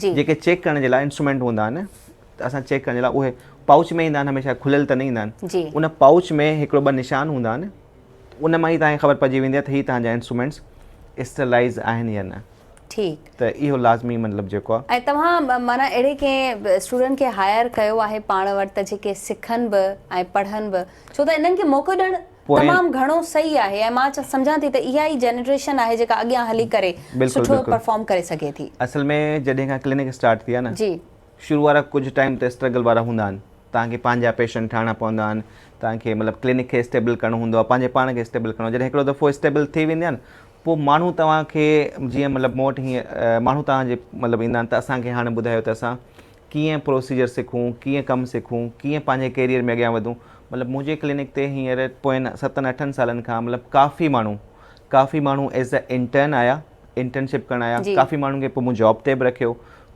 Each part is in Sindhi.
جي. جيڪي چيڪ ڪرڻ جي لاء انسٽرومينٽ هوندا آهن ته اسان چيڪ ڪرڻ جي لاء اهي پائوچ ۾ ايندا آهن هميشه کليل ته نه ايندا آهن جي. ان پائوچ ۾ هڪڙو ٻه نشان هوندا آهن ان مان ئي تهان کي خبر پئجي ويندي آهي ته هي تهان جا انسٽرومينٽس اسٽرلائيز آهن يا نه ٺيڪ. ته اهو لازمي مطلب جيڪو آهي. ۽ توهان معنيٰ اهڙي ڪنهن اسٽوڊنٽ کي هائر ڪيو آهي پاڻ وٽ ته جيڪي سکن به ۽ پڙهن به ڇو ته انهن کي موقعو ڏيڻ. پوئين تمام گهڻو صحيح آهي ۽ مان سمجهان ٿي ته اها ئي جنريشن آهي جيڪا اڳيان هلي ڪري بلڪل سٺو بلڪل پرفارم ڪري سگهي ٿي. اصل ۾ جڏهن کان ڪلينڪ اسٽارٽ ٿي آهي نه جي. شروع وارا ڪجهه ٽائيم ته اسٽرگل وارا هوندا آهن توهان کي پنهنجا پيشنٽ ٺاهڻا پوندا آهن توهان کي مطلب ڪلينڪ کي اسٽيبل ڪرڻو هوندو آهي پنهنجي پاڻ کي اسٽيبل ڪرڻو جڏهن هڪڙو دفعو اسٽيبل ٿي ويندي آهي نه پوء ماڻهو توهان کي جيئن مطلب مون وٽ هيئن ماڻهو توهان جي مطلب ايندا آهن ته اسان کي هاڻي ٻڌايو ته اسان ڪيئن پروسيجر سکون، ڪيئن ڪم سکون، ڪيئن پنهنجي ڪيريئر ۾ اڳيان وڌون، مطلب منهنجي ڪلينڪ تي هينئر پوئين ستن اٺن سالن کان مطلب ڪافي ماڻهو ڪافي ماڻهو ايز اي انٽرن آيا انٽرنشپ ڪرڻ آيا جي ڪافي ماڻهن کي پوء مون جاب تي به رکيو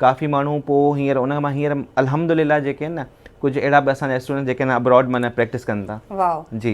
ڪافي ماڻهو پوء هينئر ان مان هينئر الحمدلله جيڪي آهن نه ڪجهه اهڙا به اسان جا اسٽوڊنٽ جيڪي هن ابراڊ معنيٰ پريڪٽس ڪن ٿا واء جي